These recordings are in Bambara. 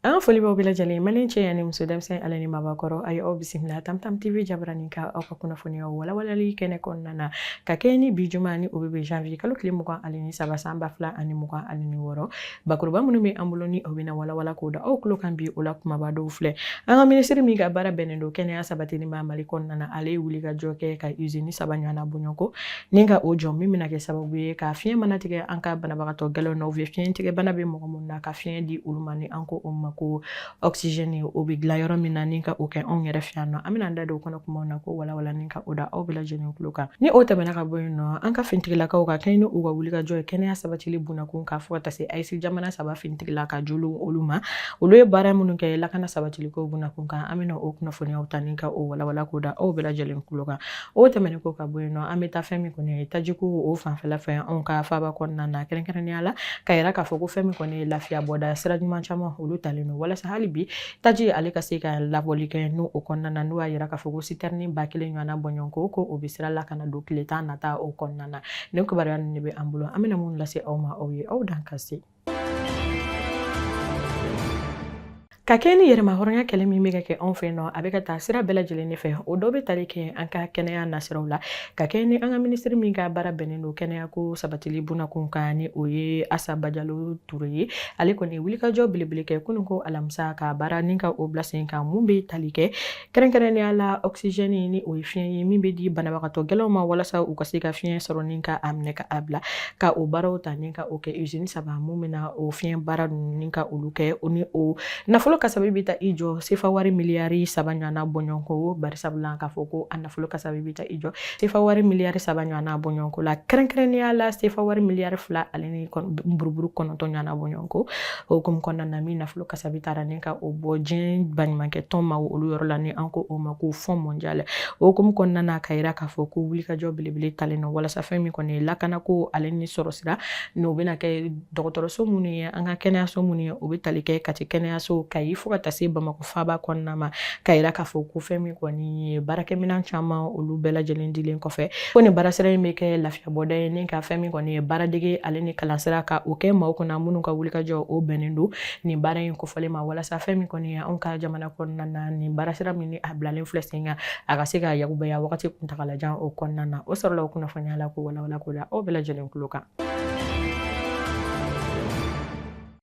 An foli b'aw bɛɛ lajɛlen mali cɛ ani muso denmisɛnnin ale ni mabakɔrɔ a ye aw bisimila tam tam tv jabaranin kan aw ka kunnafoniya walawalali kɛnɛ kɔnɔna na ka kɛ ni bi juma ni o bɛ bɛn janvier kalo tile mugan ale ni saba san ba fila ani mugan ale ni wɔɔrɔ bakuruba minnu bɛ an bolo ni o bɛna walawala k'o da aw tulo kan bi o la kumaba dɔw filɛ an ka minisiri min ka baara bɛnnen don kɛnɛya sabatili ma mali kɔnɔna na ale ye wuli ka jɔ kɛ ka izini saba ɲɔgɔnna bɔɲɔgɔnko ni ka o jɔ min bɛna kɛ sababu ye ka fiɲɛ mana tigɛ an ka banabagatɔ gɛlɛnw na u bɛ fiɲɛ tigɛ bana bɛ mɔgɔ minnu na ka fiɲɛ di olu ma ni an ko o ma ko oxygène o bɛ dilan yɔrɔ min na ni ka o kɛ anw yɛrɛ fɛ yan nɔ an bɛna an da don o kɔnɔ kumaw na k'o walawala ni ka o da aw bɛɛ lajɛlen tulo kan ni o tɛmɛna ka bɔ yen nɔ an ka finitigilakaw ka kɛɲɛ ni u ka wulikajɔ ye kɛnɛya sabatili bunakun k'a fɔ ka taa se AES jamana saba finitigila ka jolo olu ma olu ye baara minnu kɛ lakana sabatiliko bunakun kan an bɛna o kunnafoniyaw ta ni ka o walawala k'o da aw bɛɛ lajɛlen tulo kan o tɛmɛnen kɔ ka bɔ yen nɔ an bɛ taa fɛn min kɔni ye tajiko o fanfɛla fɛ anw ka faaba kɔnɔna na kɛrɛnkɛrɛnnenya la ka yira k'a fɔ ko fɛn min kɔni ye lafiya bɔda sira ɲuman caman olu talen don walasa hali bi taji ale ka se ka labɔli kɛ n'o o kɔnɔna na n'o y'a yira k'a fɔ ko sitɛrini ba kelen ɲɔgɔnna bɔɲɔgɔnko ko o bɛ sira la ka na don tile tan nata o kɔnɔna na nin kibaruya ninnu de bɛ an bolo an bɛna mun lase aw ma aw ye aw dan ka se Ka kɛ ni yɛrɛmahɔrɔnya kɛlɛ min bɛ ka kɛ anw fɛ nɔ a bɛ ka taa sira bɛɛ lajɛlen de fɛ o dɔ bɛ tali kɛ an ka kɛnɛya nasiraw la ka kɛ ni an ka minisiri min ka baara bɛnnen don kɛnɛya ko sabatili bunakun kan ni o ye asa bajalo ture ye ale kɔni wulikajɔ belebele kɛ kunun ko alamisa ka baara ni ka o bila sen kan mun bɛ tali kɛ kɛrɛnkɛrɛnnenya la ɔkisizɛni ni o ye fiɲɛ ye min bɛ di banabagatɔ gɛlɛnw ma walasa u ka se ka fiɲɛ sɔrɔ ni ka a minɛ ka a bila ka o baaraw ta ni ka o kɛ izini saba mun bɛna o fiɲɛ baara ninnu ni ka olu kɛ o ni o nafolo kasabi bɛ taa i jɔ sefa wari miliyari saba ɲɔgɔnna bɔɲɔgɔnko bari sabu la k'a fɔ ko a nafolo kasabi bɛ taa i jɔ sefa wari miliyari saba ɲɔgɔnna bɔɲɔgɔnko la kɛrɛnkɛrɛnnenya la sefa wari miliyari fila ale ni buruburu kɔnɔntɔn ɲɔgɔnna bɔɲɔgɔnko o hukumu kɔnɔna na min nafolo kasabi tara ni ka o bɔ diɲɛ baɲumankɛ tɔn ma olu yɔrɔ la ni an ko o ma ko Fonds mondial o hukumu kɔnɔna na ka yira k'a fɔ ko wulikajɔ belebele talen don walasa fɛn min kɔni ye lakana ko ale ni sɔrɔ sira n'o bɛna kɛ dɔgɔtɔrɔso minnu ye an ka kɛnɛyaso minnu ye o bɛ tali kɛ kati kɛnɛyaso kayi fo ka taa se bamakɔ faaba kɔnɔna ma ka yira k'a fɔ ko fɛn min kɔni ye baarakɛminɛn caman olu bɛɛ lajɛlen dilen kɔfɛ ko nin baarasira in bɛ kɛ lafiya Bɔda ye ni ka fɛn min kɔni ye baaradege ale ni kalansira ka o kɛ maaw kunna minnu ka wulikajɔ o bɛnnen don nin baara in kofɔlen ma walasa fɛn min kɔni ye anw ka jamana kɔnɔna na nin baarasira min a bilalen filɛ sen kan a ka se ka yakubaya wagati kuntagalajan o kɔnɔna na o sɔrɔla o kunnafoniya la k'o walawala k'o da aw bɛɛ lajɛlen tulo kan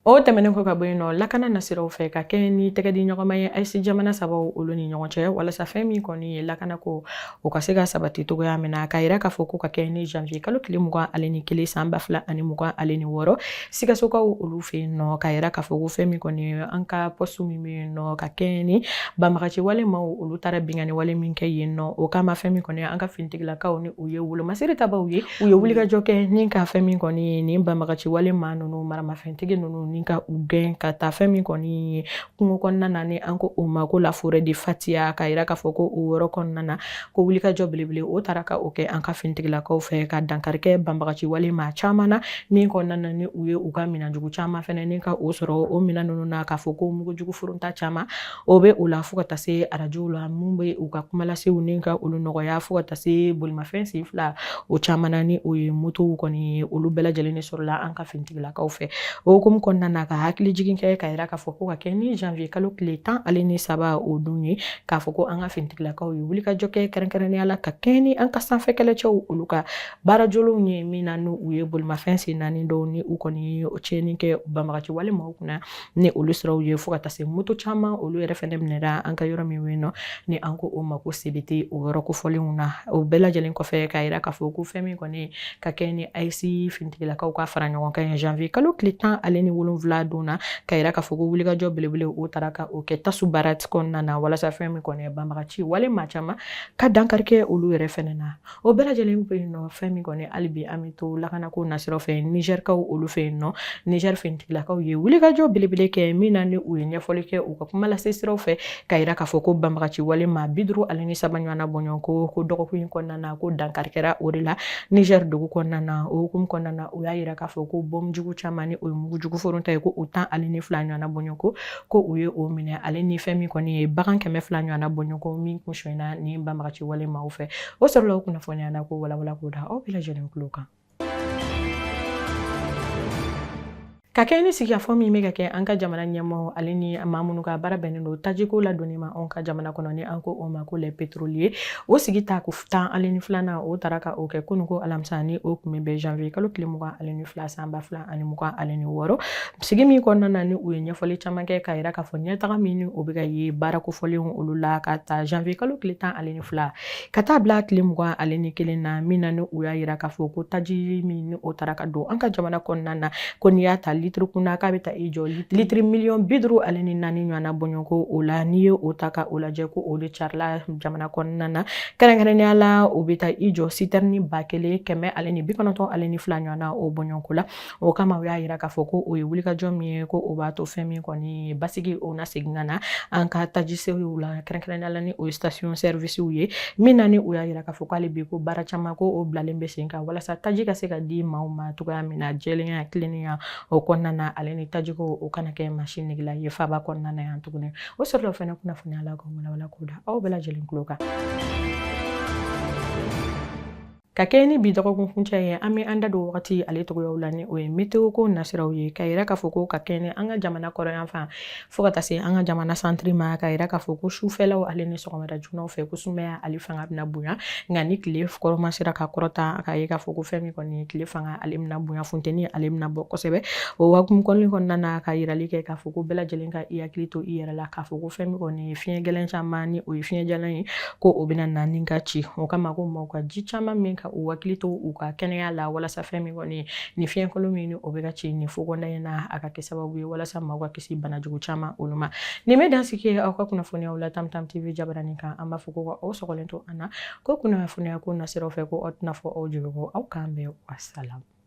O tɛmɛnen kɔ ka bɔ yen nɔ lakana nasiraw fɛ ka kɛɲɛ ni tɛgɛ di ɲɔgɔnma ye AES jamana sabaw olu ni ɲɔgɔn cɛ walasa fɛn min kɔni ye lakana ko o ka se ka sabati cogoya min na k'a yira k'a fɔ ko ka kɛɲɛ ni janvier kalo tile mugan ale ni kelen san ba fila ani mugan ale ni wɔɔrɔ sikasokaw olu fɛ yen nɔ k'a yira k'a fɔ ko fɛn min kɔni ye an ka poste min bɛ yen nɔ ka kɛɲɛ ni banbagaci wale maaw olu taara binkanni wale min kɛ yen nɔ o kama fɛn min kɔni an ka finitigilakaw ni u ye wolomasiri tabaw ye U ye wulikajɔ kɛ ni ka fɛn min kɔni ye nin banbagaci wale maa ninnu maramafɛntigi ninnu ni ka u gɛn ka taa fɛn min kɔni ye kungo kɔnɔna na ni an ko o ma ko la forêt de Fatiya ka yira k'a fɔ ko o yɔrɔ kɔnɔna na ko wulikajɔ belebele o taara ka o kɛ an ka finitigilakaw fɛ ka dankari kɛ banbagaci wale maa caman na min kɔnɔna na ni u ye u ka minɛnjugu caman fɛnɛ ni ka o sɔrɔ o minɛn ninnu na k'a fɔ ko mugujugu foronta caman o bɛ o la fo ka taa se arajow la mun bɛ u ka kumalasew ni ka olu nɔgɔya fo ka taa se bolimafɛn sen fila o caman ni o ye motow kɔni ye olu bɛɛ lajɛlen de sɔrɔla an ka finitigilakaw fɛ o hukumu kɔnɔna na ka hakili jigin kɛ ka yira k'a fɔ ko ka kɛ ni janvier kalo tile tan ale ni saba o dun ye k'a fɔ ko an ka finitigilakaw ye wulikajɔ kɛ kɛrɛnkɛrɛnnenya la ka kɛɲɛ ni an ka sanfɛ kɛlɛcɛw olu ka baarajɔlenw ye min na ni u ye bolimafɛn sen naani dɔw ni u kɔni ye tiɲɛni kɛ banbagaci wale maaw kunna ni olu siraw ye fo ka taa se moto caman olu yɛrɛ fɛnɛ minɛra an ka yɔrɔ min yen nɔ ni an ko o ma ko sebete o yɔrɔ kofɔlenw na o bɛɛ lajɛlen kɔfɛ k'a yira k'a fɔ ko fɛn min kɔni ka kɛ ni AES finitigilakaw ka fara ɲɔgɔn kan ye janvier kalo tile tan ale ni wolonwula don na ka yira k'a fɔ ko wulikajɔ belebele o taara ka o kɛ tasu baara kɔnɔna na walasa fɛn min kɔni banbagaci wale maa caman ka dankari kɛ olu yɛrɛ fɛnɛ na o bɛɛ lajɛlen bɛ yen nɔ fɛn min kɔni hali bi an bɛ to lakanako nasira fɛ nizɛrikaw olu fɛ yen nɔ nizɛri finitigilakaw ye wulikajɔ belebele kɛ min na ni u ye ɲɛfɔli kɛ u ka kuma lase siraw fɛ ka yira k'a fɔ ko banbagaci wale maa bi duuru ale ni saba ɲɔgɔnna bɔɲɔgɔnko ko dɔgɔkun in kɔnɔna na ko dankari kɛra o de la nizɛri dugu kɔnɔna na o hukumu kɔnɔna na u y'a yira k'a fɔ ko bɔnjugu caman ni o ye mugujugu foronta ye ko o tan ale ni fila ɲɔgɔnna bɔɲɔgɔnko ko u ye o minɛ ale ni fɛn min kɔni ye bagan kɛmɛ fila ɲɔgɔnna bɔɲɔgɔnko min kun sonyana ni banbagaci wale maaw fɛ o sɔrɔla o kunnafoniya na k'o walawala k'o da aw bɛɛ lajɛlen tulo kan ka kɛ ni sigikafɔ min bɛ ka kɛ an ka jamana ɲɛmɔgɔ ale ni maa minnu ka baara bɛnnen don tajiko ladonni ma anw ka jamana kɔnɔ ni an ko o ma ko les pétroliers ye o sigi tako tan ale ni filanan o taara ka o kɛ kunun ko alamisa ni o tun bɛ bɛn janvier kalo tile mugan ani ni fila san ba fila ani mugan ani ni wɔɔrɔ sigi min kɔnɔna na ni u ye ɲɛfɔli caman kɛ k'a yira k'a fɔ ɲɛtaga min ni o bɛ ka ye baara kofɔlenw olu la ka ta janvier kalo tile tan ani ni fila ka taa bila tile mugan ani ni kelen na min na ni u y'a yira k'a fɔ ko taji min ni o taara ka don an ka jamana kɔnɔna na ko n'i y'a ta litiri kun na k'a bɛ taa i jɔ litiri miliyɔn bi duuru ani ni naani ɲɔgɔnna bɔɲɔgɔnko o la n'i ye o ta ka o lajɛ ko o de carila jamana kɔnɔna na kɛrɛnkɛrɛnnenya la u bɛ taa i jɔ sitɛrɛni ba kelen kɛmɛ ale ni bi kɔnɔntɔn ale ni fila ɲɔgɔnna o bɔɲɔgɔnko la o kama u y'a yira k'a fɔ ko o ye wulikajɔ min ye ko o b'a to fɛn min kɔni basigi o na segin ka na an ka tajisow la kɛrɛnkɛrɛnnenya la ni o ye station service ye min na ni u y'a yira k'a fɔ ko hali bi ko baara caman ko o bilalen bɛ sen kan walasa taji ka se ka di maaw ma cogoya min na jɛlenya tilennenya o kɔnɔna na ale ni tajiko o kana kɛ maa si negela ye faaba kɔnɔna na yan tuguni o sɔrɔla fana kunnafoniya la ka walawala k'o da aw bɛɛ lajɛlen tulo kan ka kɛɲɛ ni bi dɔgɔkun kuncɛ ye an bɛ an da don wagati ale cogoyaw la ni o ye meteo ko nasiraw ye ka yira k'a fɔ ko ka kɛɲɛ ni an ka jamana kɔrɔnyanfan fɔɔ ka taa se an ka jamana santiri ma ka yira k'a fɔ ko sufɛlaw ale ni sɔgɔmada joonaw fɛ ko sumaya ale fanga bɛna bonya nka ni tile kɔrɔma sera ka kɔrɔta ka ye k'a fɔ ko fɛn min kɔni tile fanga ale bɛna bonya funteni ale bɛna bɔ kosɛbɛ o hukumu kɔnɔna na ka yirali kɛ k'a fɔ ko bɛɛ lajɛlen ka hakili to i yɛrɛ la k'a fɔ ko fɛn min kɔni ye fiɲɛ gɛlɛn caman ni o ye fiɲɛ jalan ye ko o bɛna na ni ka ci o kama ko maaw ka ji caman min ka u hakili to u ka kɛnɛya la walasa fɛn min kɔni ni fiɲɛkolon min ni o bɛ ka ci ni fobɔnda in na a ka kɛ sababu ye walasa maaw ka kisi bana jugu caman olu ma nin bɛ dan sigi aw ka kunnafoniyaw la tamtam tv jabaranin kan an b'a fɔ ko ka aw sɔgɔlen to an na ko kunnafoniya ko nasiraw fɛ ko aw tɛna fɔ aw jigi kɔ aw k'an bɛn wasalamu